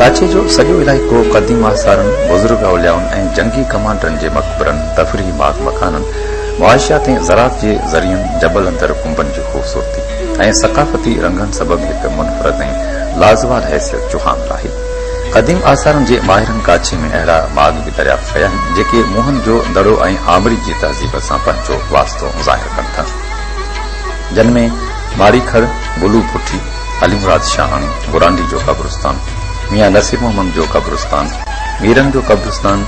ڪاڇي جو سڄو علائقو قديم آثارن، بزرگ اوليائن ۽ جنگي ڪمانڊرن جي مقبرن، تفريحي ماڳ مڪانن، معاشيات ۽ زراعت جي ذريعن، جبل اندر ڪنبن جو. خوبصورتي ۽ ثقافتي رنگن سبب هڪ منفرد ۽ لازوال حيثيت جو حامل آهي. قديم آثارن جي ماهرن ڪاڇي ۾ اهڙا ماڳ به دريافت ڪيا آهن، جيڪي موهن جو دڙو ۽ آمري جي تهذيب سان پنهنجو واسطو ظاهر ڪن ٿا، جن ۾ ماري کڙ، بلو پٺي، علي مراد شاهاڻي، گورانڊي جو قبرستان، ميان نصير محمد جو قبرستان، ميرن جو قبرستان،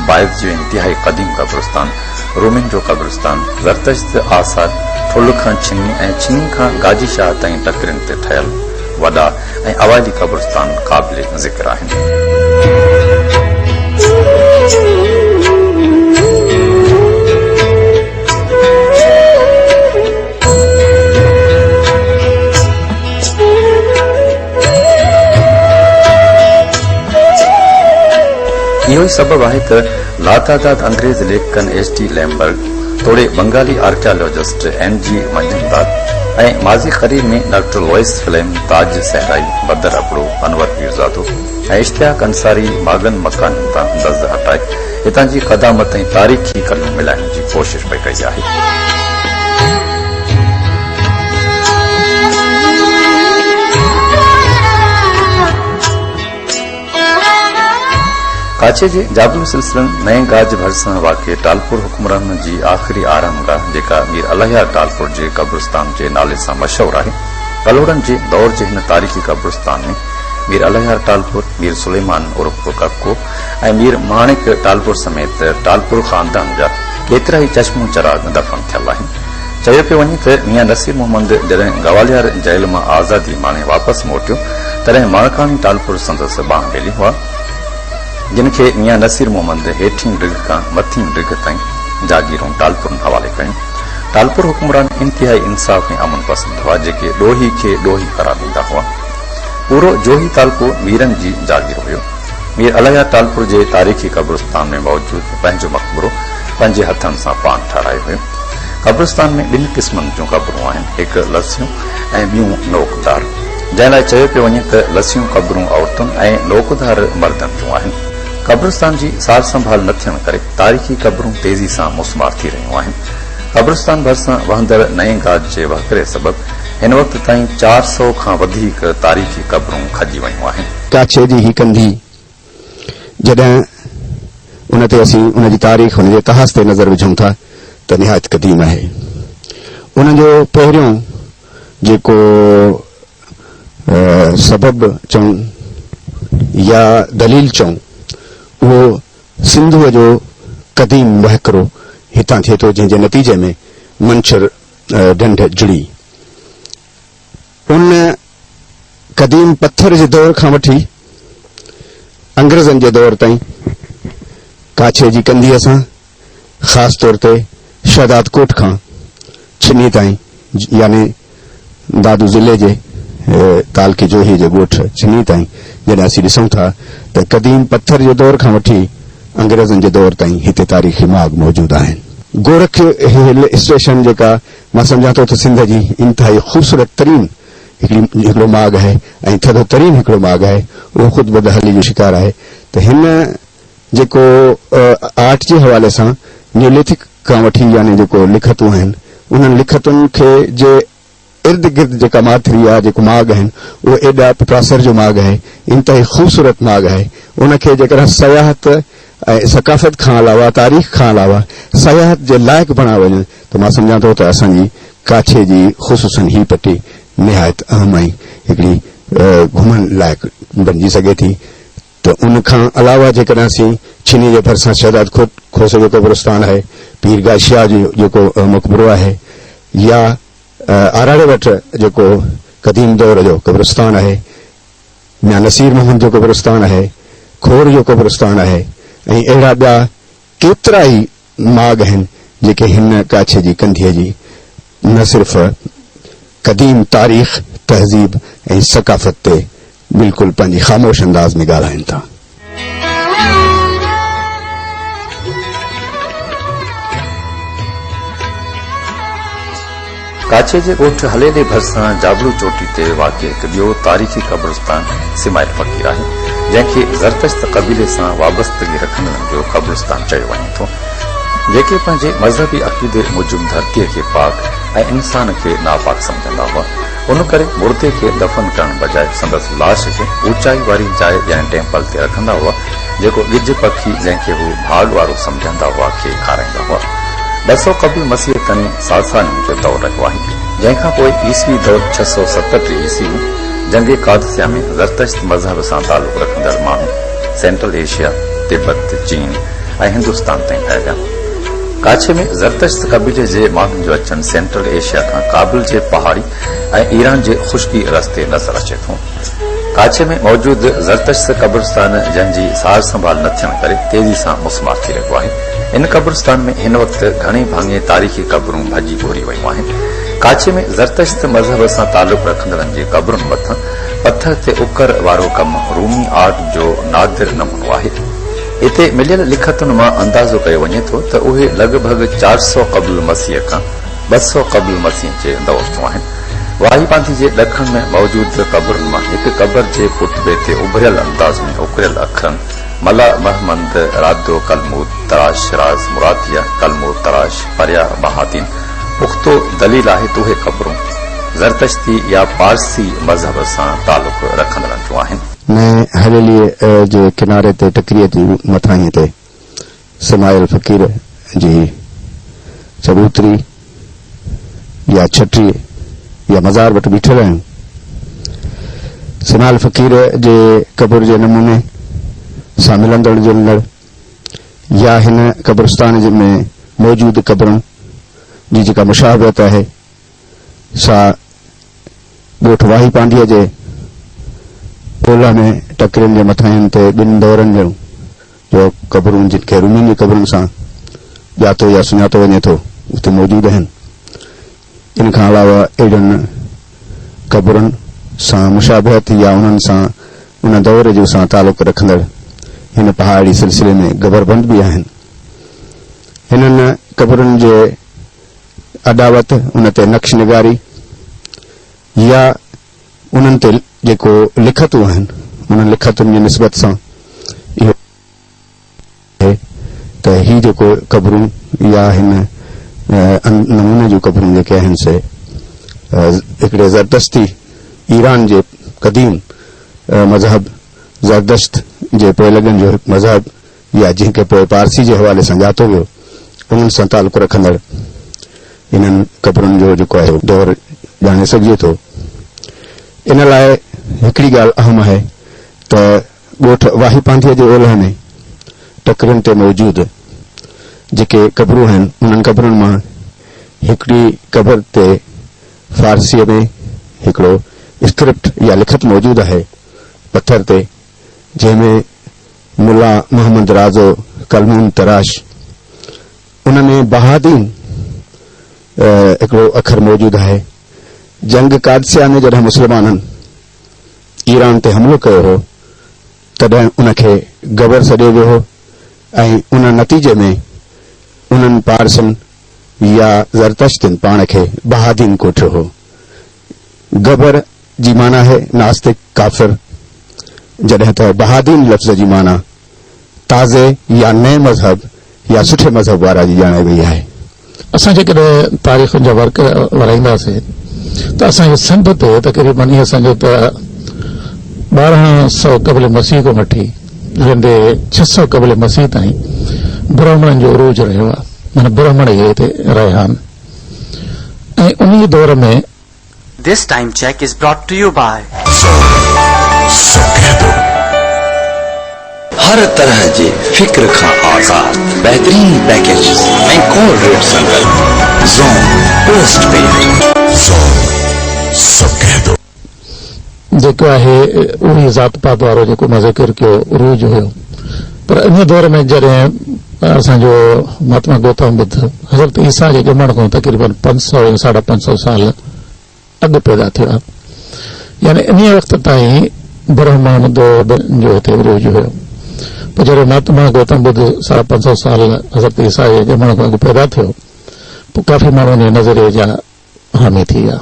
بايت جو انتهائي قديم قبرستان، رومين جو قبرستان زرتشت جي آثار ٺل کان ڇني ۽ ڇني کان گاجي شاهه تائين ٽڪرين تي ٺهيل وڏا ۽ اوائلي قبرستان قابل ذڪر آهن. اهو ئي سبب آهي ته لاتعداد انگريز ليکڪن ايڇ ٽي ليمبرٽ توڙي Bengali archaeologist N G Majumdar ۽ ماضي قريب ۾ doctor Louis Flem, Taj Sahrai, Badar Abro, Anwar Pirzado ۽ Ishtiaq Ansari ماڳن مڪانن تان دز هٽائي هتان جي قدامت ۽ تاريخي ڪليون ملائڻ جي ڪوشش پئي ڪئي آهي. ڪاڇي جي جادوئي سلسلن نئين گاج ڀرسان واقع ٽالپور حڪمرانن جي آخري آرام گاهه جيڪا مير الهيار ٽالپور جي قبرستان جي نالي سان مشهور آهي. ڀلوڙن جي دور جي هن تاريخي قبرستان ۾ مير الهيار ٽالپور، مير سليمان عرف ڪڪو ۽ مير ماڻڪ ٽالپور سميت ٽالپور خاندان جا ڪيترائي چشمو چراغ دفن ٿيل آهن. چيو پيو وڃي ته ميان نصير محمد جڏهن گواليار جيل مان آزادي ماڻي واپس موٽيو، تڏهن ماڻڪاڻي ٽالپر سندس ٻانهن ٻيلي هئا، جن کي ميان نصير محمد هيٺين ڊگهه کان مٿين ڊگهه تائين جاگيرون ٽالپرن حوالي ڪيون. ٽالپر حڪمران انتهائي انصاف ۽ امن پسند هئا، جيڪي ڏوهي کي ڏوهي قرار ڏيندا هئا. پورو جوهي تعلقو ميرن جي جاگير هيو. مير الهيار ٽالپر جي تاريخي قبرستان ۾ موجود پنهنجو مقبرو پنهنجي هٿن سان پاڻ ٺهرايو هيو. قبرستان ۾ ٻن قسمن جون قبرون آهن، هڪ لسيون ۽ ٻيون نوڪدار، جنهن لاء چيو پيو وڃي ته لسيون قبرون عورتن ۽ نوڪدار مردن جون آهن. قبرستان جي سار سنڀال نه ٿيڻ ڪري تاريخي قبرون تيزي سان مسمار ٿي رهيون آهن. قبرستان ڀرسان وهندڙ نئين گاج جي وهڪري سبب هن وقت تائين چار سؤ کان وڌيڪ تاريخي قبرون کڄي ويون آهن. ڪاڇي جي هي ڪنڌي جڏهن ان تي اسين ان جي تاريخ، ان جي اتهاس تي نظر وجهون ٿا ته نهايت قديم آهي. ان جو پهريون جيڪو سبب چئون يا دليل چئون اهو سنڌوء جو قديم وهڪرو هتان ٿئي ٿو جنهن جي نتيجي ۾ منڇر ڍنڍ جڙي. ان قديم پٿر جي دور کان وٺي انگريزن جي دور تائين ڪاڇي جي ڪنڌيء سان خاص طور تي شهدادڪوٽ کان ڇني تائين يعني دادو ضلعي جي تعلقي جوهي جي ڳوٺ ڇني تائين جڏهن اسين ڏسون ٿا ته قديم پٿر جي دور کان وٺي انگريزن جي دور تائين هتي تاريخي ماڳ موجود آهن. گورک هل اسٽيشن جيڪا مان سمجهان ٿو ته سنڌ جي انتهائي خوبصورت ترين هڪڙي هڪڙو ماڳ آهي ۽ ٿڌو ترين هڪڙو ماڳ آهي اهو خود بدحالي جو شڪار آهي ته هن جيڪو آرٽ جي حوالي سان نيوليٿڪ کان وٺي يعني جيڪو لکتون آهن انهن لکتن کي جي ارد گرد جيڪا ماٿري يا جيڪو ماڳ آهن اهو ايڏا پٽاسر جو ماڳ آهي انتهائي خوبصورت ماڳ آهي ان کي جيڪڏهن سياحت ۽ ثقافت کان علاوه تاريخ کان علاوه سياحت جي لائق بڻايو وڃن ته مان سمجهان ٿو ته اسان جي ڪاڇي جي خصوصن هي پٽي نهايت اهم ۽ هڪڙي گهمڻ لائق بڻجي سگهي ٿي ته ان کان علاوه جيڪڏهن اسين ڇيني جي ڀرسان شهداد کوٽ کوسو جو قبرستان آهي پير گاهه شاهه جو جيڪو مقبرو آهي يا آراڙي وٽ جيڪو قديم دور جو قبرستان آهي. ميان نصير محمد جو قبرستان آهي، کور جو قبرستان آهي ۽ اهڙا ٻيا ڪيترا ئي ماڳ آهن جيڪي هن ڪاڇي جي ڪنڌيء جي نه صرف قديم تاريخ، تهذيب ۽ ثقافت تي بلڪل پنهنجي خاموش انداز ۾ ڳالهائين ٿا. ڪاڇي جي ڳوٺ هليلي ڀرسان جابلو چوٽي تي واقع هڪ ٻيو تاريخي قبرستان سمائل فقير آهي، جنهن کي زرتشت قبيلي سان وابستگي رکندڙن جو قبرستان چيو وڃي ٿو، جيڪي پنهنجي مذهبي عقيدي موجب ڌرتيء کي پاڪ ۽ انسان کي ناپاڪ سمجهندا هئا. ان ڪري مردي کي دفن ڪرڻ بجاء سندس لاش کي اوچائي واري جاء يعني ٽيمپل تي رکندا هئا، جيڪو ڳجهه پکي جنهن کي هو ڀاڳ وارو سمجهندا هئا کي کارائيندا هئا. ٻه سؤ قبل مسيح تائين ساسانين جو دور رهيو آهي، جنهن کان پوء عيسوي دور ڇهه سؤ ستهٺ عيسوي ۾ جنگ قادسيه ۾ زرتشت مذهب سان تعلق رکندڙ ماڻهو سينٽرل ايشيا، تبت، چين ۽ هندستان تائين ڦهليا. ڪاڇي ۾ زرتشت قبيلي جي ماڻهن جو اچڻ سينٽرل ايشيا کان ڪابل جي پهاڙي ۽ ايران جي خشڪي رستي نظر اچي ٿو. ڪاڇي ۾ موجود زرتشت قبرستان جنهن جي سار سنڀال نه ٿيڻ ڪري تيزي سان مسمار ٿي رهيو آهي. ان قبرستان ۾ هن وقت گهڻي ڀاڱي تاريخي قبرون ڀڄي ڀوري ويون آهن. ڪاڇي ۾ زرتشت مذهب سان تعلق رکندڙن جي قبرن مٿان پٿر تي اڪر وارو ڪم رومي آرٽ جو نادر نمونو آهي. هتي مليل لکتن مان اندازو ڪيو وڃي ٿو ته اهي لڳ ڀڳ چار سؤ قبل مسيح کان ٻه سؤ قبل مسيح جي دور جون آهن. واهي باندي جي ڏکڻ ۾ موجود قبرن مان هڪ قبر جي ڪتبي تي اڀريل انداز ۾ اڪريل اکرن ملا مهمند رادو ڪلمور تراش راز مراديه ڪلمور تراش پريا بهادين پختو دليل آهي ته اهي قبرون زرتشتي يا پارسي مذهب سان تعلق رکندڙن جون آهن. نئين حويليء جي ڪناري تي ٽڪريء جي مٿاهين تي سمايل فقير جي چبوتري يا ڇٽي يا مزار وٽ بيٺل آهيون. سمايل فقير جي قبر جي نموني سان ملندڙ جلندڙ يا هن قبرستان ۾ موجود قبرن جي جيڪا مشابهت آهي، سا ڳوٺ واهي پانڊيء جي اولهه ۾ ٽڪرين جي مٿاهين تي ٻن دورن جهڙون جو قبرون جن کي رومين جي قبرن سان ڄاتو يا سڃاتو وڃي ٿو اتي موجود آهن. ان کان علاوه اهڙين قبرن سان مشابهت يا انهن سان ان دور جو سان تعلق رکندڙ هن پهاڙي سلسلي ۾ گبر بند به آهن. هنن قبرن جي اڏاوت، ان تي نقش نگاري يا انهن تي جيڪو لکتون آهن، انهن لکتن جي نسبت سان اهو آهي ته هي جيڪو قبرون يا هن نموني جون قبرون جيڪي آهن سي هڪڙي زردشتي ايران جي قديم مذهب زردشت جي پوئلڳن جو هڪ مذهب يا جنهن کي پوء پارسي جي حوالي سان ڄاتو ويو، انهن سان تعلق رکندڙ انهن قبرن جو جيڪو آهي اهو دور ڄاڻي سگهجي ٿو. ان لاء هڪڙي ڳالهه اهم آهي ته ڳوٺ واهي پانڌيء جي اولهه ۾ ٽڪرين تي موجود جيڪي قبرون آهن، انهن قبرن مان هڪڙي قبر تي فارسيء ۾ هڪڙو اسڪرپٽ يا لکت موجود آهي پٿر تي، جنهن ۾ ملا محمد رازو ڪلمون تراش ان ۾ بهادين هڪڙو اکر موجود آهي. جنگ قادسيه ۾ جڏهن مسلمانن ايران تي حملو ڪيو هو تڏهن ان کي گبر سڏيو ويو هو ۽ ان نتيجي ۾ انهن پارسين يا زرتشتين پاڻ کي بهادين ڪوٺيو هو. گبر. جي معنيٰ آهي ناستڪ، ڪافر، جڏهن ته بهادين لفظ جي معنيٰ تازي يا نئين مذهب يا سٺي مذهب وارا جي ڄاڻائي وئي آهي. اسان جيڪڏهن تاريخن جا ورق ورائينداسين ته اسان کي سنڌ تي تقريباً ائين سمجهه ته ٻارهن سئو قبل مسيح کان وٺي ويندي ڇهه سئو قبل مسيح تائين برهمڻن جو عروج رهيو آهي معنيٰ برهمڻ ئي هتي رهيا آهن ۽ انهيء دور ۾ This time check is brought to you by. هر طرح جي فڪر کان آزاد بهترين پيڪيجز ۽ ڪور ريٽ سان گڏ زون پوسٽ پيڊ. جيڪو آهي اهوئي ذات پات وارو جيڪو مان ذڪر ڪيو عروج هيو پر انهيء دور ۾ جڏهن اسان جو مهاتما گوتم ٻڌ حضرت عيسيٰ جي ڄمڻ کان تقريباً پنج سؤ يا ساڍا پنج سؤ سال اڳ پيدا ٿيو آهي يعني انهيء وقت تائين برهمڻ دور جو هتي عروج هيو پوء جڏهن مهاتما گوتم ٻڌ ساڍا پنج سؤ سال حضرت عيسيٰ جي ڄمڻ کان اڳ پيدا ٿيو پوء ڪافي ماڻهو انهيء نظريي جا حامي ٿي ويا.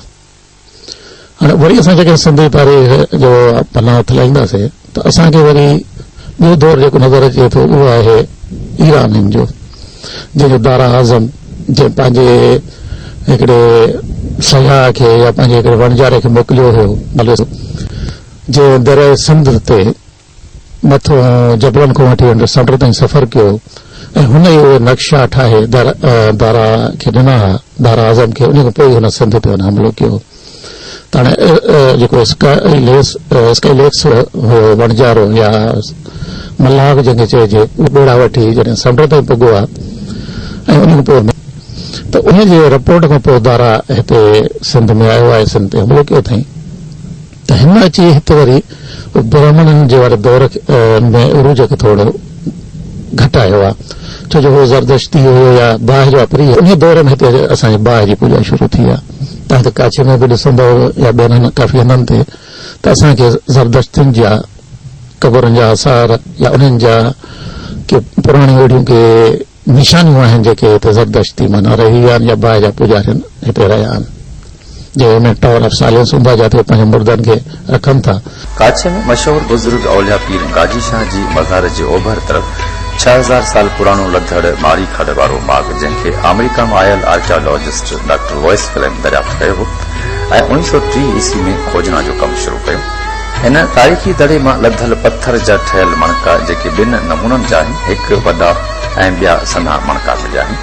هاڻي وري اسان جيڪڏهن سنڌي تاريخ جو پنا هٿ لائينداسين ته اسان کي وري ٻيو دور جيڪو نظر اچي ٿو اهو آهي ايرانين جو جنهن جو دارا اعظم جنهن پنهنجي هڪڙي سياح کي يا پنهنجي هڪڙي وڻجاري کي موڪليو هيو جنهن درياء سنڌ تي مٿون جبلن کان وٺي انڊس سمنڊ تائين سفر ڪيو ۽ هن ئي اهي نقشا ٺاهي دارا کي ڏنا ها، دارا اعظم کي، انهي کان پوء ئي هن سنڌ تي حملو ڪيو. تاڻي جيڪو اسڪائي ليڪس هو وڻجارو يا ملاح جنهن کي چئجي، اهو ٻيڙا وٺي جڏهن سمنڊ تائين پڳو ها ۽ انهي کان پوء مير ته انهي جي رپورٽ کان پوء دارا هتي سنڌ ۾ آيو ۽ سنڌ تي حملو ڪيو اٿئين. ته هن اچي هت وري برهمڻن جي واري دور ۾ عروج کي ٿورو گهٽ آيو آهي، ڇو جو هو زردشتي هيو يا باهه جو واپري هيو، انهيء دور ۾ هتي اسان جي باهه جي پوڄا شروع ٿي آهي، تنهن ڪري ڪاڇي ۾ به ڏسندؤ يا ٻين ڪافي هنڌن تي ته اسان کي زردشتين جا قبرن جا آثار يا انهن جا ڪي پراڻيون اهڙيون ڪي نشانيون آهن جيڪي هتي زردشت تي منا رهي ويا آهن يا باهه جا پوڄارين هتي رهيا آهن G M A tower of silence هوندو آهي جاتي هو پنهنجن مردن کي رکن ٿا. ڪاڇي ۾ مشهور بزرگ اولياء پير گاجي شاهه جي مزار جي اوڀر طرف ڇهه هزار سال پراڻو لڌڙ ماري کڏ وارو ماڳ جنهن کي آمريڪا مان آيل آرڪيالاجسٽ ڊاڪٽر لوئس ڪليم دريافت ڪيو هو ۽ اوڻيهه سؤ ٽيهه عيسوي ۾ کوجنا جو ڪم شروع ڪيو. هن تاريخي دڙي مان لڌل پٿر جا ٺهيل مڻڪا جيڪي ٻن نمونن جا آهن، هڪ وڏا ۽ ٻيا سنها مڻڪا مليا آهن.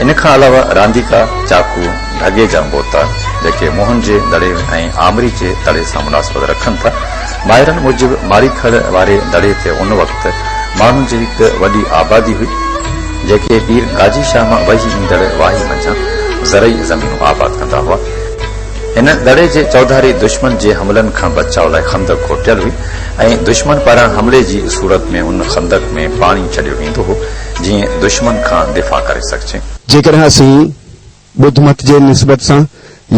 ان کان علاوه رانديڪا، چاقو، ڍڳي جا بوتا جيڪي موهن جي دڙي ۽ آمري جي دڙي سان مناسبت رکن ٿا. ماهرن موجب ماري کڙ واري دڙي تي ان وقت ماڻهن جي هڪ وڏي آبادي هئي، جيڪي پير گاجي شاهه مان وهي ايندڙ واهي منجهان زرعي زمينون آباد ڪندا هئا، هن دڙي جي چوڌاري دشمن جي حملن کان بچاء لاء خندق کوٽيل هئي ۽ دشمن پاران حملي جي صورت ۾ ان خندق ۾ پاڻي ڇڏيو ويندو هو جيئن دشمن کان دفاع ڪري سگهجي. جيڪڏهن اسين ٻڌ مت جي نسبت سان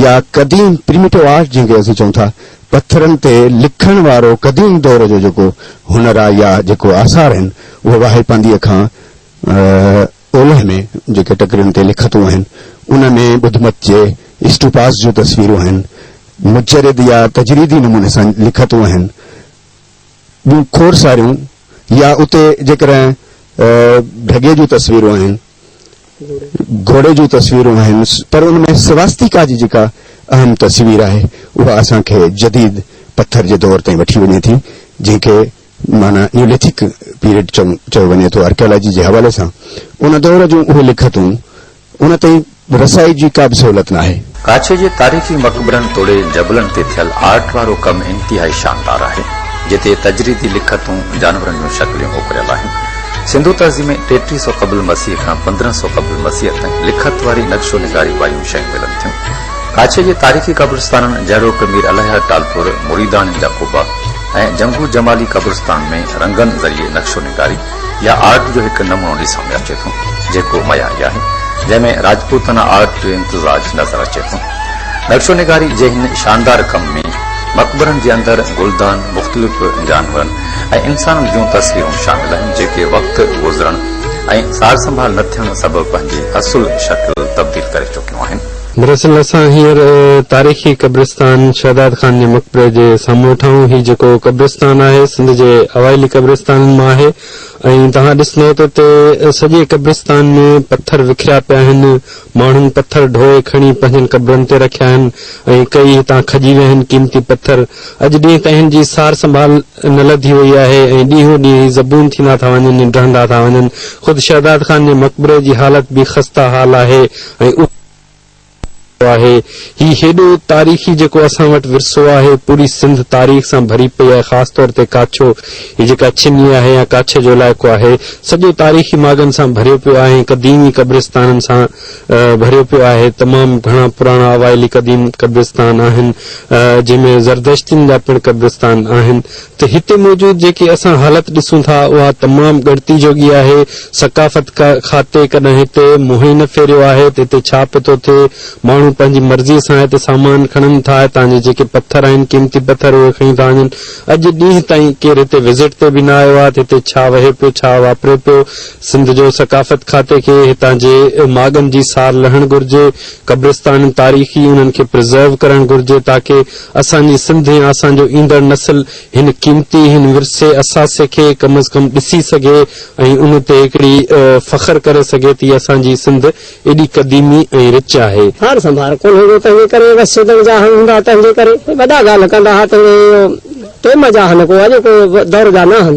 يا قديم Primitive Art جنهن کي اسين چئون ٿا پٿرن تي لکڻ وارو قديم دور جو جيڪو هنر آهي يا جيڪو آثار آهن اهي واهي پانديء کان اولهه ۾ جيڪي ٽڪرين تي لکتون آهن، انهن ۾ ٻڌ مت جي اسٽوپاس جون تصويرون آهن. مجرد يا تجريدي نموني سان لکتون آهن. ٻيون کور ساريون يا اتي جيڪڏهن ڍڳي جون تصويرون آهن، گهوڙي جون تصويرون آهن، پر ان ۾ سواستيڪا جي جيڪا اهم تصوير آهي، اها اسان کي جديد پٿر جي دور تائين وٺي وڃي ٿي، جنهن کي. معنيٰ نيوليٿڪ پيريڊ چيو وڃي ٿو آرڪيالاجي جي حوالي سان ان دور جون اهي لکتون ان تائين رسائي جي ڪا به سهولت ناهي. ڪاڇي جي تاريخي مقبرن توڙي جبلن تي ٿيل آرٽ وارو ڪم انتهائي شاندار آهي جتي تجريدي لکتون جانورن جون شڪليون اڪريل آهن سنڌو تهذيب ۾ ٽيٽيهه سؤ قبل مسيح کان پندرهن سؤ قبل مسيح تائين لکت واري نقشو نگاري وايون شيون ملن ٿيون ڪاڇي جي تاريخي قبرستانن جهڙوڪ مير الهيار ٽالپور مريداڻين جا قبا ۽ جنگو جمالي قبرستان ۾ رنگن ذريعي نقشو نگاري يا آرٽ جو هڪ نمونو ڏسڻ ۾ اچي ٿو، جيڪو معياري آهي، جنهن ۾ راجپوتانا آرٽ جو امتزاج نظر اچي ٿو. نقشو نگاري جي هن شاندار ڪم ۾ مقبرن جي اندر گلدان، مختلف جانورن ۽ انسانن جون تصويرون شامل آهن، جيڪي وقت گذرڻ ۽ سارسنڀال نه ٿيڻ سبب پنهنجي اصل شڪل تبديل ڪري چڪيون آهن. دراصل اسان هينئر تاريخي قبرستان شهداد خان جي مقبري جي سامهون ويٺا آهيون. هي جيڪو قبرستان آهي سنڌ جي اوائلي قبرستانن مان آهي ۽ توهان ڏسندئو ته اتي سڄي قبرستان ۾ پٿر وکريا پيا آهن، ماڻهن پٿر ڍوئي کڻي پنهنجن قبرن تي رکيا آهن ۽ ڪيئي هتان کڄي ويا آهن قيمتي پٿر اڄ ڏينهن تائين هن جي سار سنڀال نه لڌي وئي آهي ۽ ڏينهون ڏينهن هي زبون ٿيندا ٿا وڃن ۽ ڊهندا ٿا وڃن. خود شهداد خان جي مقبري جي حالت به خسته حال آهي ۽ اهو ڏکيو آهي. هي هيڏو تاريخي جيڪو اسان وٽ ورثو آهي، پوري سنڌ تاريخ سان ڀري پئي آهي خاص طور تي ڪاڇو، هي جيڪا چني آهي يا ڪاڇي جو علائقو آهي، سڄو تاريخي ماڳن سان ڀريو پيو آهي ۽ قديمي قبرستانن سان. ڀريو پيو آهي، تمام گهڻا پراڻا اوائلي قديم قبرستان آهن، جنهن ۾ زردشتين جا پڻ قبرستان آهن، ته هتي موجود جيڪي اسان حالت ڏسون ٿا، اها تمام ڳڻتي جوڳي آهي، ثقافت کاتي ڪڏهن هتي منهن ئي نه ڦيريو آهي ته هتي ڇا پيو ٿو ٿئي، ماڻهو پنهنجي مرضي سان هتي سامان کڻن ٿا، هتان جي جيڪي پٿر آهن، قيمتي پٿر اهي کڻي ٿا وڃن، اڄ ڏينهن تائين ڪير هتي وزٽ تي به نه آيو آهي ته هتي ڇا وهي پيو، ڇا واپري پيو، سنڌ جو ثقافت کاتي کي هتان جي ماڳن جي سار لهڻ گهرجي، قبرستانن تاريخي انهن کي پرزرو ڪرڻ گهرجي تاڪه اسان جي سنڌ ۽ اسان جو ايندڙ نسل هن قيمتي هن ورثي اثاثي کي ڪم از ڪم ڏسي سگهي ۽ ان تي هڪڙي فخر ڪري سگهي تي اسان جي سنڌ ايڏي قديمي ۽ رچ آهي. سار سنڀار ڪونه هوندو تنهنجي ڪري بس سوڌڻ جا هنگ هوندا تنهنجي ڪري وڏا ڳالهه ڪندا ها تهڙي ٽيم جا هن ڪو اڄوڪو دور جا نه هن.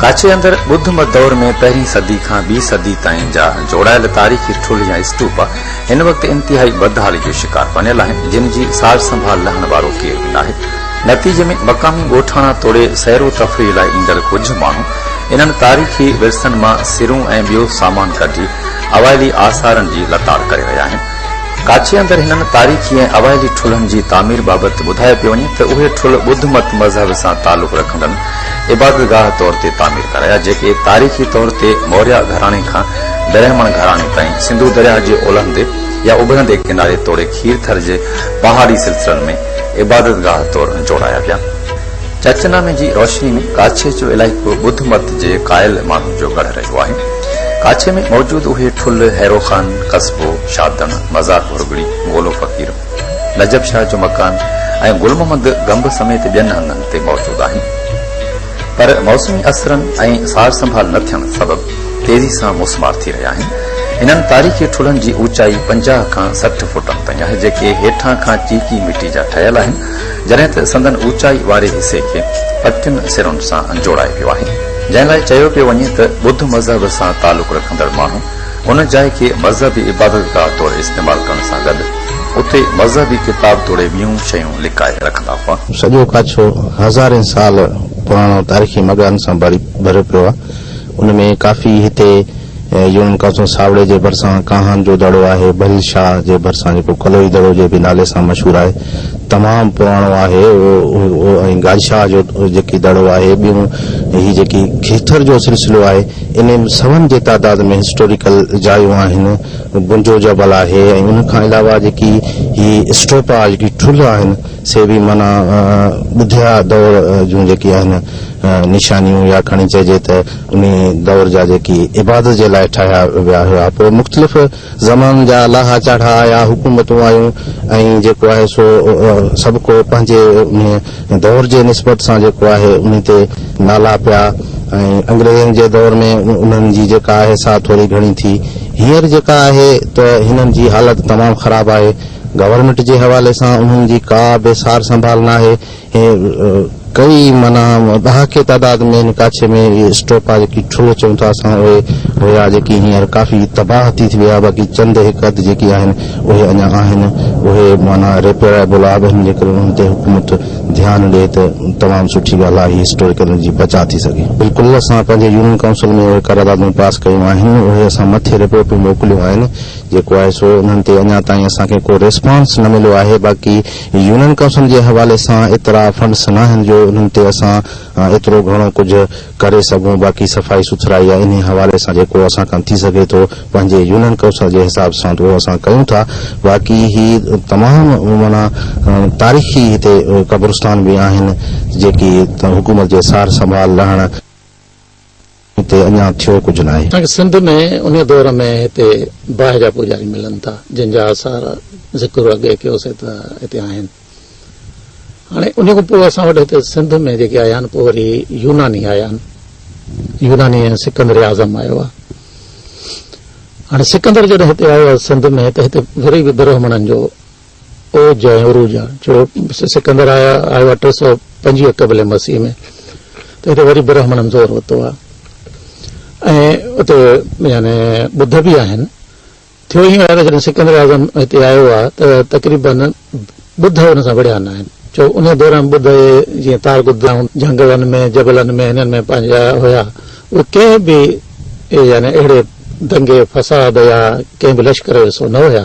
ڪاڇي اندر ٻڌ مت دور ۾ پهرين صدي کان ٻي صدي تائين جا جوڙايل تاريخي ٺلهه يا اسٽوپا هن وقت انتهائي بدحالي جو شڪار بنيل آهن جن جي سار سنڀال لهڻ وارو ڪير به ناهي نتيجي ۾ مقامي ڳوٺاڻا توڙي سير و تفريح لاء ايندڙ ڪجهه ماڻهو انهن تاريخي ورثن مان سرون ۽ ٻيو سامان ڪڍي اوائلي آثارن جي لتاڙ ڪري رهيا آهن ڪاڇي اندر هنن تاريخي ۽ اوائلي ٺلهن جي تعمير بابت ٻڌايو پيو وڃي ته اهي ٺلهه ٻڌ مت مذهب سان تعلق رکندڙن عبادتگاهه طور تي تعمير ڪرايا جيڪي تاريخي طور تي موريا گهراڻي کان برهمڻ گهراڻي تائين سنڌو درياهه جي اولهندي يا اڀرندي ڪناري توڙي کير ٿر جي پهاڙي سلسلن ۾ عبادتگاهه طور جوڙايا ويا. چرچ نامي جي روشني ۾ ڪاڇي جو علائقو ٻڌ مت جي قائل ماڻهن جو ڳڙهه رهيو آهي. ڪاڇي ۾ موجود اهي ٺل، هيرو خان، قصبو، شاهدڻ، مزار ڀرڳڙي، گولو فقير، نجف شاهه جو مڪان ۽ گل محمد گنب سميت ٻين هنڌن تي موجود آهن. پر موسمي اثرن ۽ سار سنڀال نه ٿيڻ سبب تيزي سان موسمار ٿي رهيا آهن. انهن تاريخي ٺلهن جي اوچائي پنجاهه کان سٺ فوٽن تائين آهي، جيڪي هيٺان کان چيڪي مٽي جا ٺهيل آهن جڏهن ته سندن اوچائي واري حصي کي پٽين سرن سان جوڙايو ويو آهي، جنهن لاء چيو پيو وڃي ته ٻڌ مذهب سان تعلق رکندڙ ماڻهو ان جاء کي مذهبي عبادت گاهه طور استعمال ڪرڻ سان گڏ اتي مذهبي ڪتاب توڙي ٻيون شيون لڪائي رکندا هئا. سڄو ڪاڇو هزارين سال پراڻو تاريخي مڳهن سان ڀريو پيو آهي، ان ۾ ڪافي هتي يونان قصو ساوڙي جي ڀرسان ڪانهن جو دڙو آهي، بهل شاهه جي ڀرسان جيڪو ڪلوئي دڙو جي به نالي سان مشهور آهي، تمام پراڻو آهي ۽ گاج شاهه جو جيڪي دڙو آهي، ٻيون هي جيڪي کيتر جو سلسلو آهي، انهي ۾ سون جي تعداد ۾ هسٽوريڪل جايون آهن، بنجو جبل آهي ۽ ان کان علاوه جيڪي هي اسٽوپا جيڪي ٺلهه آهن سي به معنيٰ ٻڌيا دور جون جيڪي آهن. نشانيون يا کڻي چئجي ته انهي دؤر جا جيڪي عبادت جي لاء ٺاهيا ويا هيا پوء مختلف زمانن جا لاها چاڙها آيا حڪومتون آيون ۽ جيڪو آهي سو سڀ ڪو پنهنجي انهي دؤر جي نسبت سان جيڪو آهي انهي تي نالا پيا ۽ انگريزن جي دؤر ۾ انهن جي جيڪا آهي سا ٿوري گهڻي ٿي هينئر جيڪا آهي ته هنن جي حالت تمام خراب آهي گورنمينٽ جي حوالي سان انهن جي ڪا به سار سنڀال ناهي ڪئي معنيٰ ڏهاڪي تعداد ۾ هن ڪاڇي ۾ اهي اسٽوپا جيڪي ٺلهه چئون ٿا اسان اهي هيا جيڪي هينئر ڪافي تباهه ٿي ويا باقي چند هڪ اڌ جيڪي آهن اهي اڃا آهن اهي معنيٰ ريپيئرائبل آبن جي ڪري انهن تي حڪومت ڌيان ڏي ته تمام سٺي ڳالهه آهي هسٽوريڪل انرجي بچاء ٿي سگهي. بلڪل اسان پنهنجي يونين ڪائونسل ۾ اهي قراردادون پاس ڪيون آهن اهي اسان مٿي رپورٽون موڪليون آهن جيڪو آهي سو انهن تي اڃا تائين اسان کي ڪو ريسپانس نه مليو آهي باقي يونين ڪائونسل جي حوالي سان ايترا فنڊس ناهن جو انهن تي اسان ايترو گهڻو ڪجهه ڪري سگهون باقي صفائي سٿرائي يا انهي حوالي سان جيڪو اسان کان ٿي سگهي ٿو پنهنجي يونين ڪائونسل جي حساب سان اهو اسان ڪيون ٿا باقي هي تمام معنيٰ تاريخي هتي قبرستان به آهن جيڪي حڪومت جي سار سنڀال لهڻ هتي اڃا ٿيو ڪجهه ناهي. اسان کي سنڌ ۾ انهيء دور ۾ هتي باهه جا پوڄاري ملن ٿا، جن جا آثار ذڪر اڳي ڪيوسين ته هتي آهن. هاڻي انهيء کان پوء اسان وٽ هتي سنڌ ۾ جيڪي آيا آهن، پوء وري يوناني آيا آهن. يوناني ۽ سڪندر اعظم آيو آهي. هاڻي سڪندر جڏهن هتي آيو آهي سنڌ ۾ ته هتي وري به برهمڻن جو او جاء عروج آ جو سڪندر آيا آيو آ ٽي سؤ پنجويهه قبل مسيح ۾ ته هتي وري برهمڻن زور ورتو آ ۽ اتي يعني ٻڌ به آهن ٿيو ائين آهي جڏهن سڪندر اعظم هتي آيو آهي ته تقريبن ٻڌ هن سان وڙهيا نه آهن جو ان دوران ٻڌ جيئن تار گداون جهنگلن ۾ جبلن ۾ هنن ۾ پنهنجا هيا اهي ڪنهن به يعني اهڙي دنگي فساد يا ڪنهن به لشڪر جو حصو نه هيا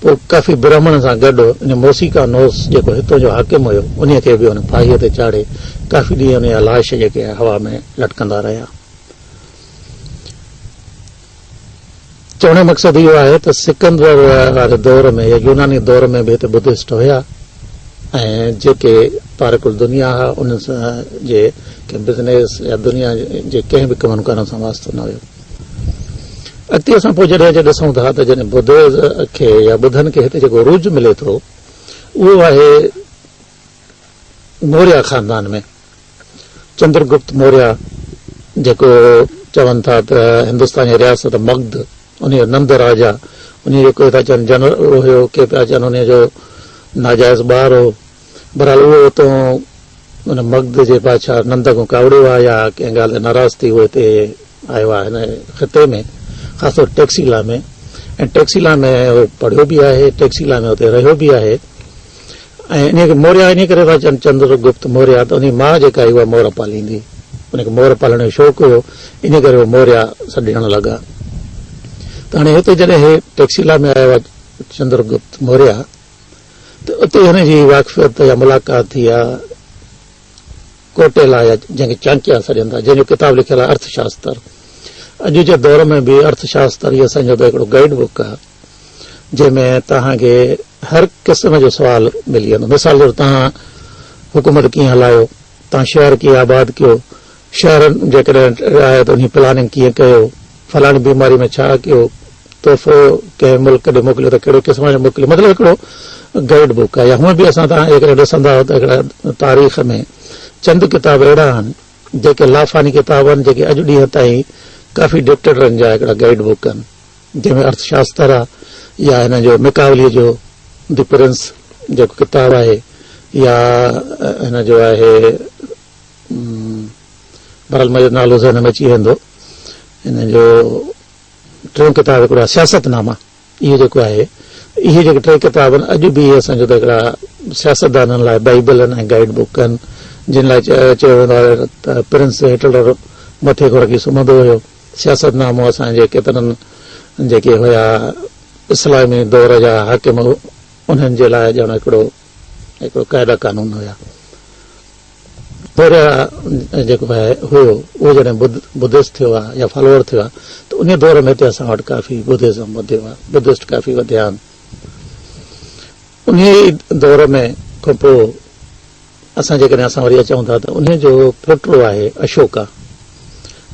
پوء ڪافي برهمڻن سان گڏ ان موسيقا نوس جيڪو هتون جو حاڪم هيو، انهيء کي به هن ڦاهيء تي چاڙهي ڪافي ڏينهن ان جا لاش جيڪي آهن هوا ۾ لٽڪندا رهيا. چوڻ جو مقصد اهو آهي ته سڪندر واري دور ۾ يا يوناني دور ۾ به هتي بدهسٽ هيا ۽ جيڪي تارڪ الدنيا هئا، انهن جي ڪنهن بزنس يا دنيا جي ڪنهن به ڪم ڪارن سان واسطو نه هيو. اڳتي اسان پوء جڏهن جي ڏسون ٿا ته جڏهن ٻڌ کي يا ٻڌن کي هتي جيڪو عروج ملي ٿو اهو آهي موريا خاندان ۾ چندر گپت موريا جيڪو چون ٿا ته هندوستان جي رياست مغد ان جو نند راجا ان جو ڪوئي ٿا چون جنرل هيو ڪي پيا چون ان جو ناجائز ٻار هو بھرحال اھو اتون ان مگڌ جي بادشاھھ نند کان ڪاوڙيو آھي يا ڪنھن ڳالھھ تي ناراض ٿي اھو ھتي آيو آھي ھن خطي ۾ خاص طور ٽيڪسيلا ۾ ۽ ٽيڪسيلا ۾ اھو پڙھيو به آھي ٽيڪسيلا ۾ اتي رھيو به آھي ۽ ان کي موريا ان ڪري ٿا چون چندر گپت موريا ته انھي ماء جيڪا ھئي اھا مور پاليندي ان کي مور پالڻ جو شوق ھيو ان ڪري اھو موريا سڏجڻ لڳا ته ھاڻي ھتي جڏھن ھي ٽيڪسيلا ۾ آيو آھي چندر گپت موريا ته اتي هن جي واقفيت يا ملاقات ٿي آ ڪوٽيلا يا جنهن کي چانڪيا سڏين ٿا جنهن جو ڪتاب لکيل آ ارٿ شاستر اڄ جي دور ۾ به ارٿ شاستر هي اسان جو هڪڙو گائيڊ بوڪ آ جنهن ۾ توهان کي هر قسم جو سوال ملي ويندو مثال طور توهان حڪومت ڪيئن هلايو تان شهر ڪيئن آباد ڪيو، شهر جيڪڏهن آهي ته انهي پلاننگ ڪيئن ڪيو، فلاڻي بيماري ۾ ڇا ڪيو، تحفو ڪنهن ملڪ ڏي موڪليو ته ڪهڙي قسم جو موڪليو مطلب هڪڙو گائيڊ بوڪ آهي يا هونء به اسان توهان جيڪڏهن ڏسندا ته هڪڙا تاريخ ۾ چند ڪتاب اهڙا آهن جيڪي لافاني ڪتاب آهن جيڪي اڄ ڏينهن تائين ڪافي ڊڪٽيٽرن جا هڪڙا گائيڊ بوڪ آهن. جنهن ۾ ارٿ شاستر يا هن جو ميڪاوليء جو دي پرنس جيڪو ڪتاب آهي يا هن جو آهي برحال مجھو نالو ذهن ۾ اچي ويندو هن جو ٽيون ڪتاب هڪڙو آهي سياست ناما اهو جيڪو آهي اهي جيڪي ٽي ڪتاب آهن اڄ به اهي اسان جو ته هڪڙا سياستدانن لاء بائبل آهن ۽ گائيڊ بوڪ آهن جن لاء چيو ويندو آهي ته پرنس هٽلر مٿي کان رکي سمهندو هيو سياست نامو اسان جي ڪيترن جيڪي هيا اسلامي دور جا حاڪم انهن جي لاء ڄڻ هڪڙو هڪڙو قاعده قانون هيا پهريا جيڪو آهي هيو اهو جڏهن بدھست ٿيو آهي يا فالوور ٿيو آهي ته ان دور ۾ هتي اسان وٽ ڪافي بدھزم وڌيو آهي بدھست ڪافي وڌيا آهن ان دور ۾ کپو اسان جيڪڏهن اسان وري اچون ٿا ته انهيء جو پوٽو آهي اشوڪا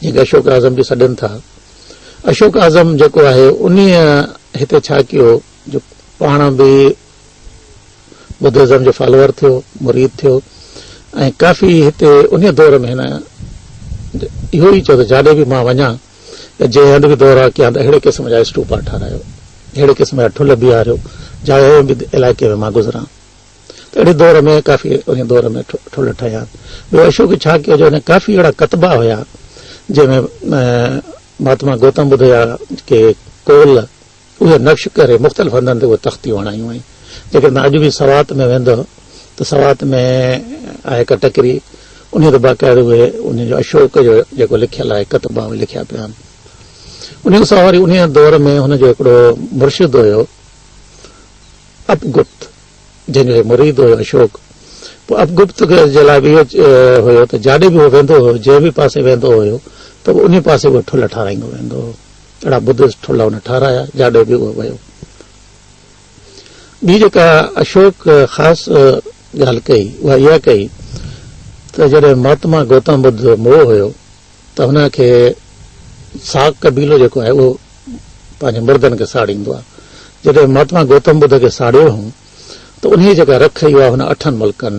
جنهن کي اشوڪ اعظم به سڏين ٿا. اشوڪ اعظم جيڪو آهي انهيء هتي ڇا ڪيو جو پاڻ به بدهزم جو فالوور ٿيو، مريد ٿيو ۽ ڪافي هتي انهيء دور ۾ هن اهو ئي چيو ته جاڏي به مان وڃان يا جنهن هنڌ به دورا ڪيان ته اهڙي قسم جا اسٽوپا ٺارايو، اهڙي قسم جا ٺل بيهاريو جا اهڙي علائقي ۾ مان گذران. ته اهڙي دور ۾ ڪافي انهيء دور ۾ ٺلهه ٺهيا. ٻيو اشوڪ ڇا ڪيو جو هن ڪافي اهڙا ڪتبا هيا جنهن ۾ مهاتما گوتم ٻڌ جا جيڪي قول اهي نقش ڪري مختلف هنڌن تي اهي تختيون هڻايون هئائين. جيڪڏهن توهان اڄ به سوات ۾ ويندؤ ته سوات ۾ آهي هڪ ٽڪري انهيء تي باقاعده اهي انهيء جو اشوڪ جو جيڪو لکيل آهي ڪتبا اهي لکيا پيا آهن. انهيء کان سواء وري انهيء دور ۾ هن جو هڪڙو مرشد هيو. اپگپت جنهن جو هي مريد هيو اشوڪ پوء اپگپت جي لاء به اهو هيو ته جاڏي به هو ويندو هيو جنهن به پاسي ويندو هيو ته به ان پاسي اهو ٺل ٺارايندو ويندو هو اهڙا بدس ٺل هن ٺارايا جاڏي به اهو ويو ٻي جيڪا اشوڪ خاص ڳالهه ڪئي اها اها ڪئي ته جڏهن مهاتما گوتم بدھ موهه هيو ته هن کي ساڪ قبيلو جيڪو آهي اهو پنهنجي مردن کي ساڙيندو آهي جڏهن مهاتما گوتم ٻڌ کي ساڙيو هئون ته انهيء جيڪا رک هئي اها هن اٺن ملڪن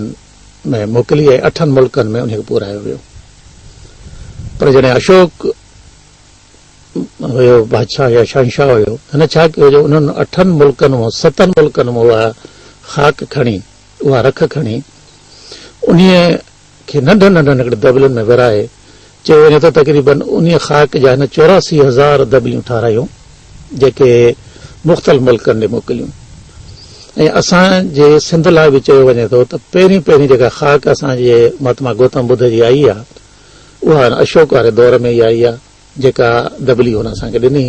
۾ موڪلي ۽ اٺن ملڪن ۾ انهيء کي پورهايو ويو پر جڏهن اشوڪ هيو بادشاهه يا شهنشاهه هيو هن ڇا ڪيو جو انهن اٺن ملڪن مان ستن ملڪن مان اها خاڪ کڻي اها رک کڻي انهيء کي ننڍن ننڍن هڪڙن دٻلن ۾ ورهائي چيو وڃي ته تقريبن انهيء خاڪ جا هن چوراسي هزار دٻليون ٺارايون جيڪي مختلف ملڪن ڏي موڪليون ۽ اسان جي سنڌ لاء به چيو وڃي ٿو ته پهرين پهرين جيڪا خاڪ اسان جي مهاتما گوتم ٻڌ جي آئي آ اها هن اشوڪ واري دور ۾ ئي آئي آ جيڪا دٻلي هن اسان کي ڏني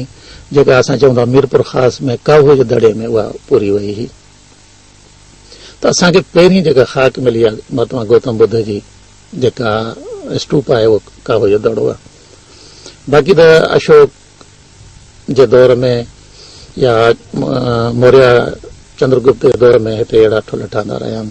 جيڪا اسان چون ٿا ميرپور خاص ۾ ڪاهوء جي دڙي ۾ اها پوري وئي هئي ته اسان کي پهرين جيڪا خاڪ ملي آهي مهاتما گوتم ٻڌ جي جيڪا اسٽوپ آهي اهو ڪاوه جو دڙو آهي باقي ته اشوڪ جي دور ۾ يا موريا چندر گپت جي دور ۾ هتي اهڙا ٺلهه ٺهندا رهيا آهن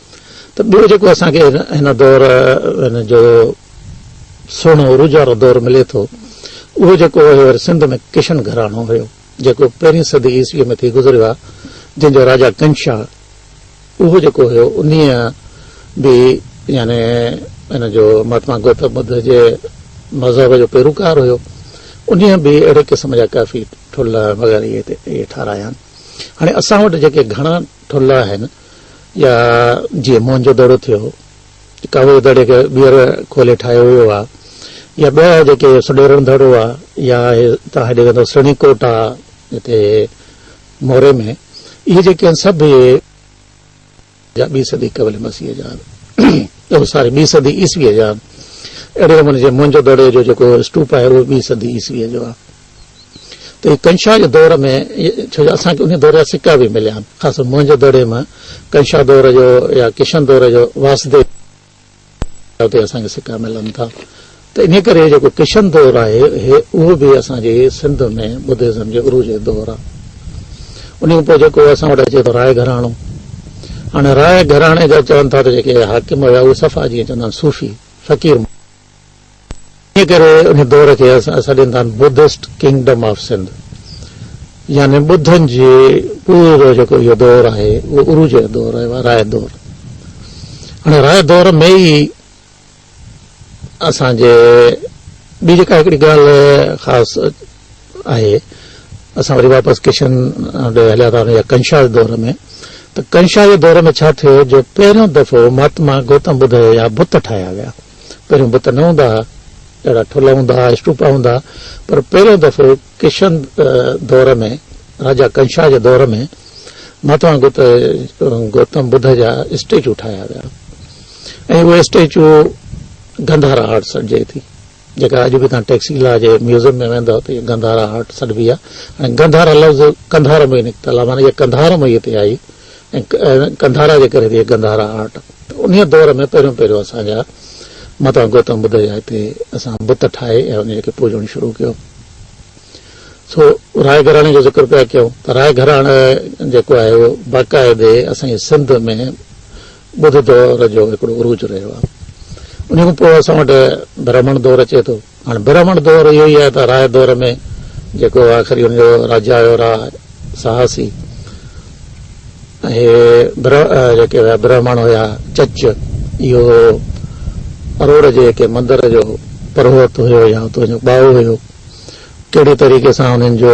ته ٻيو جيڪو اسان کي هن دور هن جو سهڻو عروج وارو دور ملي ٿو اهو جيڪو هيو سنڌ ۾ ڪشن گهراڻو هيو جيڪو پهرين صدي عيسوي ۾ ٿي گذريو آهي جنهن جو راجا ڪنشا اهو جيڪو هيو ان به يعني ان جو مهاتما گوتم ٻڌ جي مذهب جو پيروڪار هيو ان به اهڙي قسم جا ڪافي ٺلا وغيره ٺارايا آهن هاڻي اسان وٽ جيڪي گهڻا ٺلا آهن يا جيئن موهن جو دڙو ٿيو، ڪاوڙ جي دڙي کي ٻيهر کولي ٺاهيو ويو آهي يا ٻيا جيڪي سڏيرڻ دڙو آهي يا توهان هيڏي ويندو سڻي ڪوٽ آهي هتي موري ۾ اهي جيڪي آهن سڀ اهي جا ٻي صدي قبل مسيح جا آهن ساري ٻي صدي عيسويء جا آهن اهڙي نموني جيئن موهن جو دڙي جو جيڪو اسٽوپ آهي اهو ٻي صدي عيسويء جو آهي ته ڪنشا جي دور ۾ ڇو جو اسان کي ان دور جا سڪا به مليا آهن خاص طور موهن جو دڙي مان ڪنشا دور جو يا ڪشن دور جو واسديو تي اسان کي سڪا ملن ٿا ته ان ڪري جيڪو ڪشن دور آهي اهو به اسان جي سنڌ ۾ بدهزم جي عروج جو دور آهي ان کان پوء جيڪو اسان وٽ اچي ٿو راء گهراڻو هاڻي راء گهراڻي جا چون ٿا ته جيڪي حاڪم هيا اهي صفا جيئن چوندا آهن صوفي فقير انهيء ڪري ان دور کي اسان سڏين ٿا بدسٽ ڪنگڊم آف سنڌ يعني ٻڌن جي پورو جيڪو اهو دور آهي اهو عروج جو دور آهي رائي دور هاڻي رائي دور ۾ ئي اسان جي ٻي جيڪا هڪڙي ڳالهه خاص آهي اسان وري واپس ڪشن ڏي هليا ٿا وڃون يا ڪنشا جي دور ۾ ته ڪنشا جي دور ۾ ڇا ٿيو جو پهريون دفعو مهاتما گوتم ٻڌ جا بت ٺاهيا ويا پهريون بت نه هوندا ها، اهڙا ٺل هوندا ها، اسٽوپا هوندا ها، پر پهريون دفعو ڪشن دور ۾ راجا ڪنشا جي دور ۾ مهاتما گوتم ٻڌ جا اسٽيچو ٺاهيا ويا ۽ اهي اسٽيچو گنڌارا هارٽ سڏجي ٿي جيڪا اڄ به تان ٽيڪسيلا جي ميوزيم ۾ ويندو ته گنڌارا هارٽ سڏبي آهي ۽ گنڌارا لفظ ڪنڌار ۾ نڪتل آهي معنی اها ڪنڌار ۾ هتي آئي گنڌارا جي ڪري ٿي گنڌارا آرٽ ته انهي دور ۾ پهريون پهريون اسان جا متان گوتم ٻڌ جا هتي اسان بت ٺاهي ۽ انهي کي پوڄڻ شروع ڪيو سو راء گهراڻي جو ذڪر پيا ڪيون ته راء گهراڻي جيڪو آهي اهو باقاعدي اسان جي سنڌ ۾ ٻڌ دور جو هڪڙو عروج رهيو آهي. انهيء کان پوء اسان وٽ برهمڻ دور اچي ٿو. هاڻ برهمڻ دور اهو ئي آهي ته راء دور ۾ جيڪو آخري ان جو راجا هيو راء سهاسي ۽ هي جيڪي هيا برهمڻ هيا چچ اهو اروڙ جي ڪنهن مندر جو پروهت هيو يا اتو جو ٻائو هيو. ڪهڙي طريقي سان انهن جو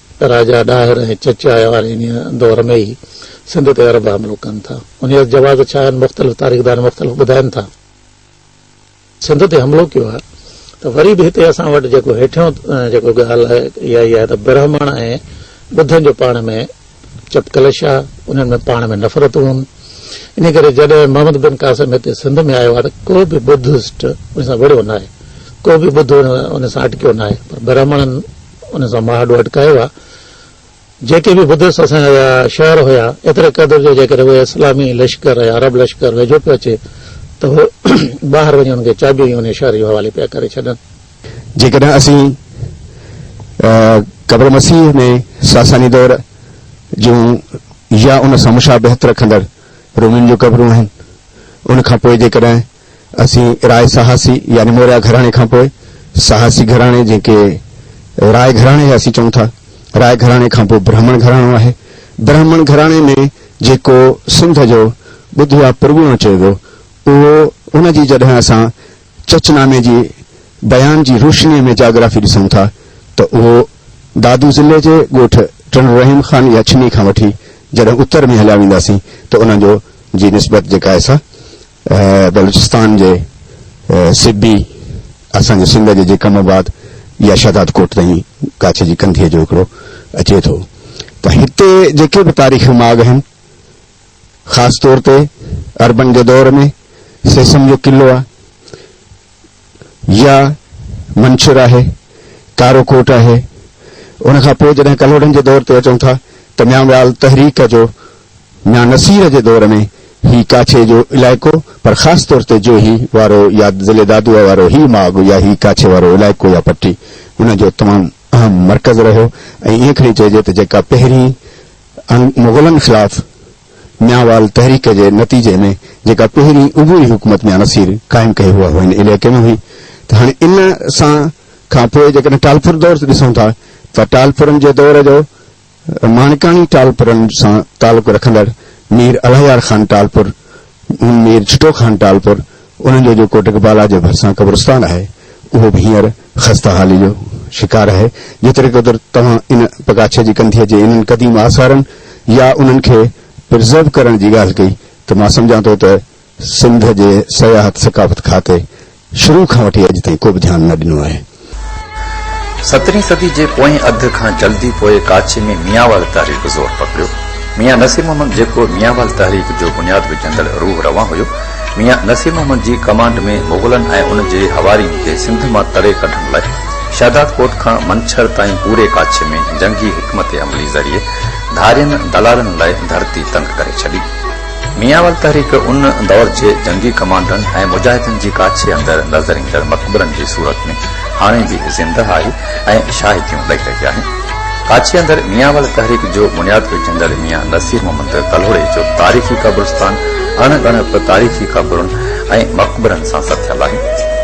راجا ڏاهر ۽ چچائي واري انهيء دور ۾ ئي سنڌ تي عرب حملو ڪن ٿا. انهيء جا جواز ڇا آهن، مختلف تاريخدان مختلف ٻڌائين ٿا. سنڌ تي حملو ڪيو آهي ته وري به هتي اسان وٽ جيڪو هيٺيون جيڪو ڳالهه آهي، اها ئي آهي ته برهمڻ ۽ ٻڌن جو پاڻ ۾ چپڪلش آهي، انهن ۾ پاڻ ۾ نفرتون هن. انهيء ڪري جڏهن محمد بن قاسم هتي سنڌ ۾ آيو آهي ته ڪو به ٻڌسٽ ان سان وڙهيو ناهي، ڪو به ٻڌو ان سان اٽڪيو ناهي، پر برهمڻن، ان سان ماهه ڏو اٽڪايو آهي. جيڪي به بدس اسان جا شهر هيا، ايتري قدر جو جيڪڏهن اهي اسلامي لشڪر يا عرب لشڪر ويجهو پيو اچي ته هو ٻاهر وڃي ان کي چاٻيون ئي انهي شهر جي حوالي پيا ڪري ڇڏن. جيڪڏهن اسين قبر مسيح ۾ ساساني دور جون يا ان سان مشابهت رکندڙ رومين جون قبرون آهن، ان کان پوء جيڪڏهن اسين راء سهاسي يعني موريا گهراڻي کان پوء سهاسي گهراڻي جنهن کي راء گهراڻي يا اسين چئون ٿا راء گهراڻي کان پوء برهمڻ گهراڻو آهي. برهمڻ گهراڻي ۾ جيڪو سنڌ جو ٻڌ يا پرڳڻو چيو ويو اهو ان جي جڏهن اسان چچ نامي جي بيان جي روشنيء ۾ جاگرافي ڏسون ٿا ته اهو دادو ضلعي جي ڳوٺ ٽنڊو رحيم خان يا ڇني کان وٺي جڏهن اتر ۾ هليا وينداسين ته ان جو جي نسبت جيڪا آهي سا بلوچستان جي سبي اسان جي سنڌ جي جيڪم آباد يا شهداد ڪوٽ تائين ڪاڇي جي ڪنڌيء جو هڪڙو اچي ٿو ته هتي جيڪي به تاريخي ماڳ آهن خاص طور تي اربن جي دور ۾ سيسم جو قلعو آهي. يا منڇر آهي، ڪارو ڪوٽ آهي. ان کان پوء جڏهن ڪلهوڙن جي دور تي اچون ٿا ته ميانويال تحريڪ جو ميان نصير جي دور ۾ هي ڪاڇي جو علائقو پر خاص طور تي جوهي وارو يا ضلعي دادوء وارو هي ماڳ يا هي ڪاڇي وارو علائقو يا پٽي ان جو تمام اهم مرڪز رهيو ۽ ائين کڻي چئجي ته جيڪا پهرين مغلن خلاف ميانوال تحريڪ جي نتيجي ۾ جيڪا پهرين عبوري حڪومت ميان نصير قائم ڪئي هوء هن عليقي ۾ هئي ته هاڻي ان سان کان پوء جيڪڏهن ٽالپر دور ڏسون ٿا ته ٽالپرن جي دور جو ماڻڪاڻي ٽالپرن سان تعلق رکندڙ مير الهيار خان ٽالپر مير جھٽو خان ٽالپر انهن جو جيڪو ٽڪبالا جي ڀرسان قبرستان آهي اهو به هينئر خسته حالي جو شڪار آهي جيتري قدر توهان ان پگاڇي جي ڪنڌيء جي انهن قديم آثارن يا انهن کي پرزرو ڪرڻ جي ڳالهه ڪئي ته مان سمجهان ٿو ته سنڌ جي سياحت ثقافت کاتي شروع کان وٺي اڄ تائين ڪو به ڌيان نه ڏنو آهي. سترهين صدي جي پوئين اڌ کان جلدي پوء ڪاڇي ۾ ميانوال تحريڪ زور پڪڙيو. ميان نصير محمد جيڪو ميانوال تحريڪ جو بنياد وجهندڙ روح روان هيو، ميان نصير محمد جي ڪمانڊ ۾ مغلن ۽ ان جي حوارين کي سنڌ مان تڙي ڪڍڻ لاء شهداد ڪوٽ کان منڇر تائين پوري ڪاڇي ۾ جنگي حڪمت عملي ذريعي ڌارين دلالن لاء ڌرتي تنگ ڪري ڇڏي. ميان واري تحريڪ ان دؤر جي جنگي ڪمانڊرن ۽ مجاهدن جي ڪاڇي اندر نظر ايندڙ مقبرن جي صورت ۾ هاڻي به زنده آهي ۽ شاهديون ڏئي رهي آهي. ڪاڇي اندر ميان واري تحريڪ جو بنياد وجهندڙ ميان نصير محمد ڪلهوڙي جو تاريخي قبرستان اڻ ڳڻپ تاريخي قبرن ۽ مقبرن سان ستيل آهي.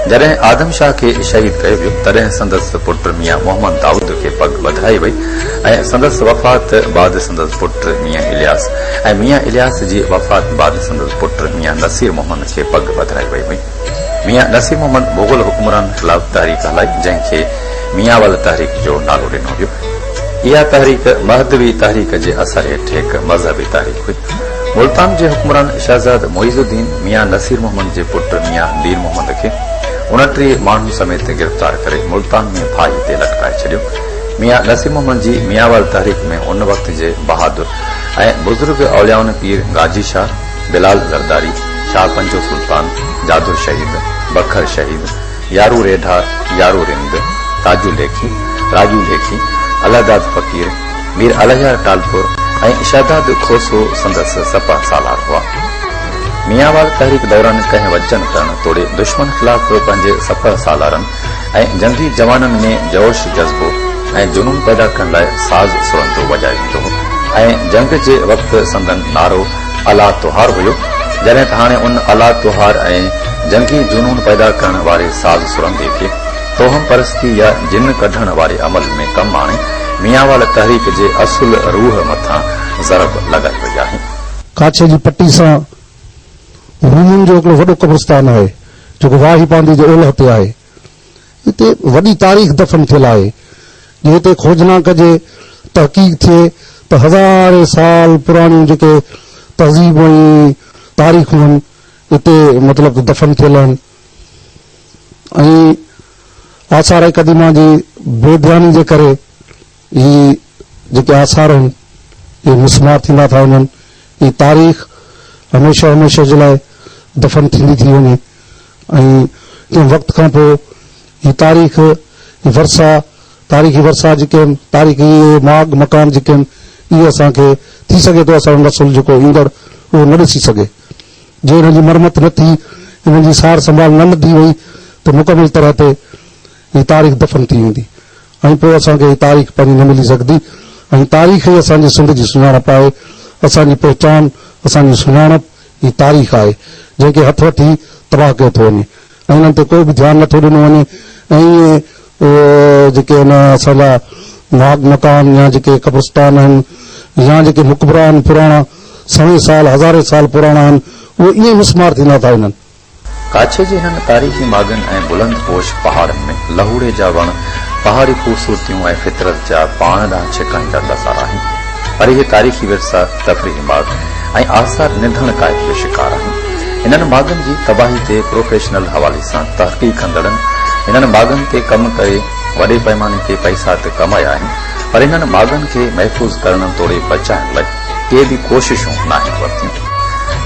جڏهن آدم شاهه کي شهيد ڪيو ويو، تڏهن سندس پٽ ميان محمد دائود کي پڳ ٻڌائي وئي ۽ سندس وفات بعد سندس پٽ ميان الياس ۽ ميان الياس جي وفات بعد سندس پٽ ميان نصير محمد کي پڳ پڌرائي وئي هئي. ميان نصير محمد مغل حڪمرانن خلاف تحريڪ هلائي جنهن کي ميانول تحريڪ جو نالو ڏنو ويو. اها تحريڪ مهدوي تحريڪ جي اثر هيٺ هڪ مذهبي تحريڪ هئي. ملتان جي حڪمران شهزاد معيز الدين ميان نصير محمد جي پٽ ميان مير محمد کي اڻٽيهه ماڻهن سميت گرفتار ڪري ملتان ۾ ڦاهي تي لٽڪائي ڇڏيو. ميان نصير محمد جي ميانول تحريڪ ۾ ان وقت جي بهادر ۽ بزرگ اوليائن پير غازي شاھ، بلال زرداري، شاھ پنجو سلطان، جادو شھيد، بکر شھيد، يارو ريڍا، يارو رند، تاجو ليکي، راڄو ليکي، الله داد فقير، مير الهيار ٽالپر ۽ شھداد کوسو سندس سپهه سالار هئا. ميانوال تحريڪ دوران ڪنهن وجهن ڪرڻ توڙي دشمن خلاف پنهنجي سپهه سالارن، ۽ جنگي جوانن ۾ جوش جذبو ۽ جنون پيدا ڪرڻ لاء ساز سرندو وڄائي ويندو هو ۽ جنگ جي وقت سندن نعرو الا توهار هيو جڏهن ته هاڻي ان الا توهار ۽ جنگي جنون پيدا ڪرڻ واري ساز سرندي کي توهم پرستي يا جن ڪڍڻ واري عمل ۾ ڪم آڻي ميانوال تحريڪ جي اصل روح مٿان ضرب لڳائي وئي آهي. ڪاڇي جي پٽي سان رومن جو هڪڙو وڏو قبرستان آهي. جيڪو واهي باندي جي اولهه تي آهي. هتي وڏي تاريخ دفن ٿيل آهي. جي هتي کوجنا ڪجي، تحقيق ٿئي ته هزارين سال پراڻيون جيڪي تهذيبون ۽ تاريخون هن هتي مطلب ته دفن ٿيل آهن ۽ آثار قديمه جي بي ڌياني جي ڪري هي جيڪي آثار آهن، اهي مسمار ٿيندا ٿا وڃن. هي تاريخ هميشه هميشه جي لاء دفن ٿيندي ٿي وڃي ۽ ڪنهن وقت کان پوء هي تاريخ، هي ورثا، تاريخي ورثا جيڪي آهن، تاريخي اهي ماڳ مڪان جيڪي آهن، اهي اسان کي ٿي سگهي ٿو اسان جو نسل جيڪو ايندڙ اهو نه ڏسي سگهي. جي انهن جي مرمت نه ٿي، انهن جي سار سنڀال نه لڌي وئي ته مڪمل طرح تي هي تاريخ دفن ٿي ويندي. ۽ پوء اسان کي هي تاريخ پنهنجي نه ملي سگهندي ۽ تاريخ ئي اسان جي سنڌ جي سڃاڻپ آهي، اسان جي پهچان، اسان جي سڃاڻپ ئي تاريخ آهي، جنهن کي هٿ وٺي تباهه ڪيو ٿو وڃي ۽ انهن تي ڪو به ڌيان نه ٿو ڏنو وڃي ۽ اهي جيڪي ان اسان جا ماڳ مڪان يا جيڪي قبرستان آهن يا جيڪي مقبرا آهن پراڻا سوين سال هزارين سال پراڻا آهن اهي ائين مسمار ٿيندا ٿا وڃن. ڪاڇي جي هن تاريخي ماڳن ۽ بلند پوش پهاڙن ۾ لهوڙي جا وڻ پهاڙي خوبصورتيون ۽ فطرت جا پاڻ ڏانهن ڇڪائيندڙ نظارا آهن پر اهي تاريخي ورثا، تفريحي ماڳ ۽ آثار نڌڻ ڪاهي جو شڪار آهن. انهن ماڳن جي تباهي تي پروفيشنل حوالي سان تحقيق ڪندڙن انهن ماڳن تي ڪم ڪري وڏي پئماني تي پئسا ته ڪمايا آهن پر انهن ماڳن کي محفوظ ڪرڻ توڙي بچائڻ لاء ڪي به ڪوششون ناهن ورتيون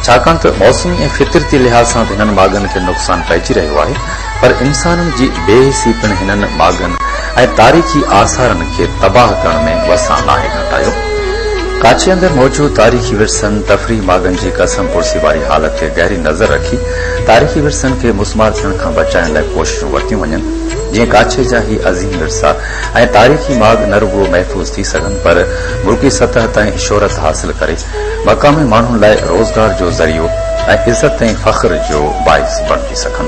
ڇاڪاڻ ته موسمي ۽ فطرتي لحاظ سان ته هنن ماڳن کي نقصان پئجي رهيو آهي پر انسانن جي بي حسي پڻ هنن ماڳن ۽ تاريخي آثارن کي تباهه ڪرڻ ۾ وسان ناهي گهٽايو. ڪاڇي اندر موجود تاريخي ورثن، تفريحي ماڳن جي ڪسم پرسي واري حالت تي گهري نظر رکي تاريخي ورثن کي مسمار ٿيڻ کان بچائڻ لاء ڪوششون ورتيون وڃن جيئن ڪاڇي جا هي عظيم ورثا ۽ تاريخي ماڳ نه رڳو محفوظ ٿي سگهن پر ملڪي سطح تائين شهرت حاصل ڪري مقامي ماڻهن لاء روزگار جو ذريعو ۽ عزت ۽ فخر جو باعث بڻجي سگهن.